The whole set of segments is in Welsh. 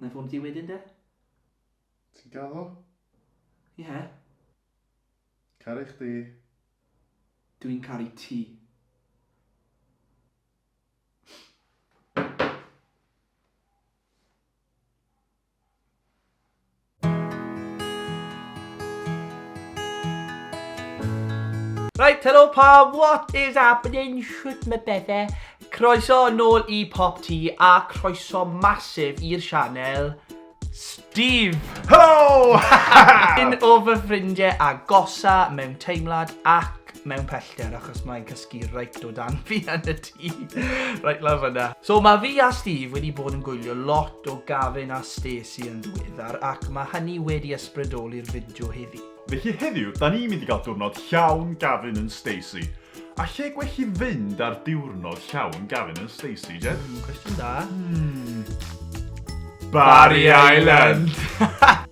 Nai ffonio ti wedyn de? Ti'n gaddo? Ie. Caru chdi. Dw i'n caru ti. Right, hello pawb, what is happening? Shwt mae bedde? Croeso nôl i Pop T a croeso masif i'r sianel Steve! Hello! Un o fy ffrindiau a gosa mewn teimlad ac mewn pellter achos mae'n cysgu reit o dan fi yn y tŷ. Reit lawr fyna. So mae fi a Steve wedi bod yn gwylio lot o Gavin a Stacey yn ddiweddar ac mae hynny wedi ysbrydoli'r fideo heddi. Felly heddiw, da ni'n mynd i gael diwrnod llawn Gavin and Stacey. A lle gwell i fynd ar diwrnod llawn Gavin and Stacey, Jed? Mm, cwestiwn da. Mm. Barry Island!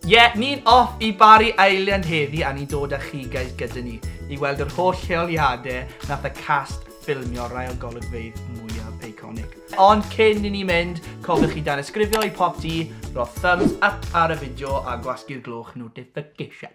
Ie, yeah, ni'n off i Barry Island heddi a ni'n dod â chi guys gyda ni i weld yr holl lleoliadau nath y cast ffilmio rai o golygfeydd mwyaf iconic. Ond cyn i ni mynd, cofiwch chi dan ysgrifio i pop di, roedd thumbs up ar y fideo a gwasgu'r glwch notification.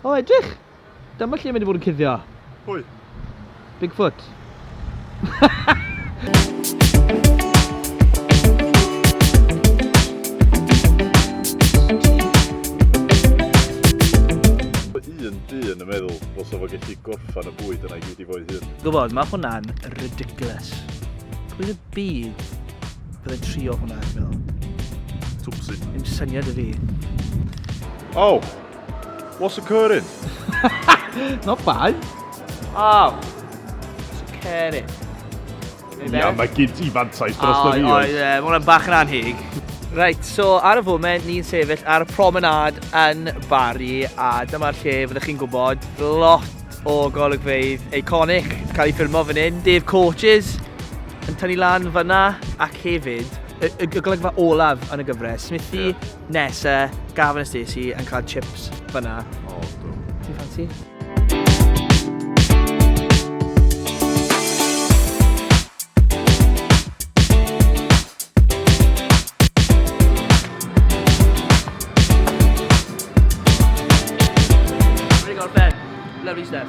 O, edrych! Dyma lle mae wedi bod yn cuddio. Pwy? Bigfoot. un dyn yn meddwl fos o fo gallu gorffan y bwyd yna i gyd i fo'i hun. Gwybod, mae hwnna'n ridiculous. Pwy y byd Byddai trio hwnna, dwi'n meddwl. Twpsi. Dim syniad i fi. Oh! What's occurring? Not bad. Oh! What's occurring? Ia, mae gyd i fantais dros y fi. Oes, mae hwnna'n bach yn anheg. Right, so ar y foment ni'n sefyll ar y promenade yn Bari a dyma'r lle fyddwch chi'n gwybod lot o golygfeydd iconic cael ei ffilmo fan hyn. Dave Coaches, yn tynnu lan fyna ac hefyd y, y, y golygfa olaf yn y gyfres. Smithy, yeah. Nessa, Gavin a Stacey yn cael chips fyna. O, oh, do. Ti'n ffansi? Lovely stuff.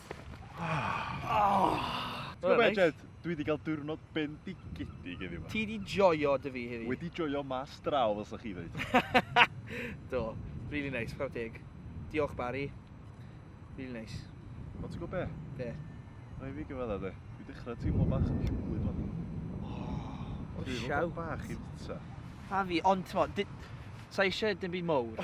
Ti'n gwybod be, Jed? Dwi wedi cael diwrnod bendigedig heddiw yma. Ti wedi joio dy fi heddiw? Wedi joio mas draw, fel sa'ch chi ddweud. Do, really nice, chwarae teg. Diolch, Barry. Really nice. O, ti'n gwybod be? Be? Rhaid fi gyfadda, de. Dwi dechrau teimlo bach yn llwyd fan. O, siaw. Bach i fwyta. A fi, ond ti'n mo, sa eisiau dim byd mowr.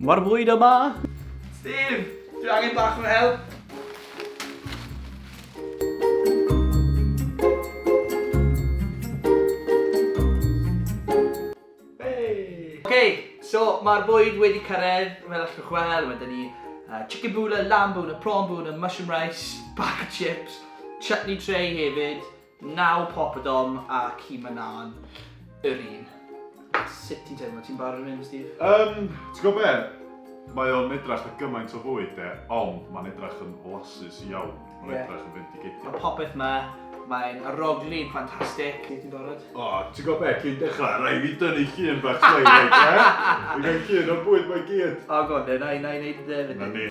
Mae'r fwyd yma! Steve, dwi angen bach o'n help. So, mae'r bwyd wedi cyrraedd, fel allwch chi'n gweld, mae dyn ni uh, chicken bula, lamb bula, prawn bula, mushroom rice, bag of chips, chutney tray hefyd, Naw poppadom a ci mynân yr un. Sut ti'n teimlo? Ti'n barod am hyn, Steve? Yym, ti'n gwybod be? Mae o'n edrach ar gymaint o fwyd de, ond mae'n edrach yn flasus iawn. Mae'n yeah. edrach yn fendigedig. Mae popeth ma, mae'n arogli, ffantastig. Ti'n ti'n barod? O, oh, ti'n gwybod be? Cyn dechrau, rai fi dynnu llun bach slei, reit, e? Dwi'n cael llun o'r bwyd mae gyd. O, oh, god, na i wneud y dde, fe di.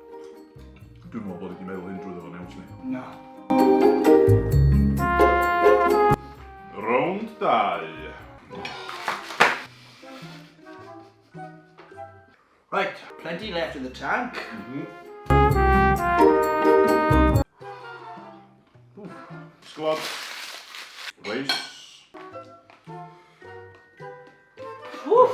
Dwi'n meddwl bod i wedi meddwl hyn drwy ddo'n iawn, sni? Na. Rownd 2. Right, plenty left in the tank. Mm -hmm. Squad. Race. Oof.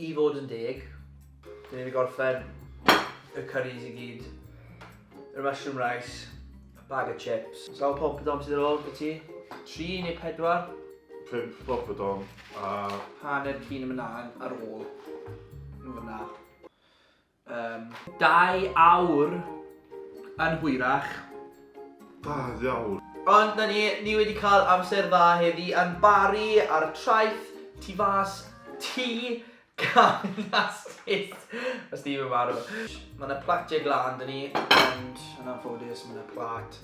I fod yn deg, dyn ni wedi gorffen y curries i gyd, yr mushroom rice, a bag o chips. Sawl poppadom sydd ar ôl gyda ti? Tri neu pedwar? Pump poppadom a... Hanner cyn y mynau ar ôl. Yn fyna. Yym, dau awr yn hwyrach. Dau awr. Ond 'na ni, ni wedi cael amser dda heddi yn Bari ar y traeth tu fas ti gan Astis. Mae Steve yn marw. Mae 'na platiau glân 'da ni, ond yn anffodus mae 'na plat...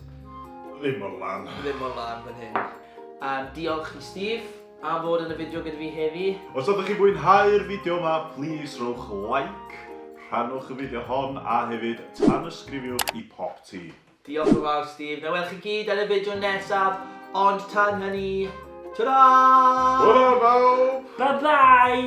Ddim mor lân. ...ddim mor lân fan hyn. Yym, diolch i Steve. Am fod yn y fideo gyda fi heddi. Os ydych chi'n mwynhau'r fideo yma, plis rhowch like, rhannwch y fideo hon a hefyd tanysgrifiwch i Pop Ti. Diolch yn fawr Steve, na welwch chi gyd yn y fideo nesaf, ond tan hynny, ta-ra! Hwyl fawr bawb! Bye bye!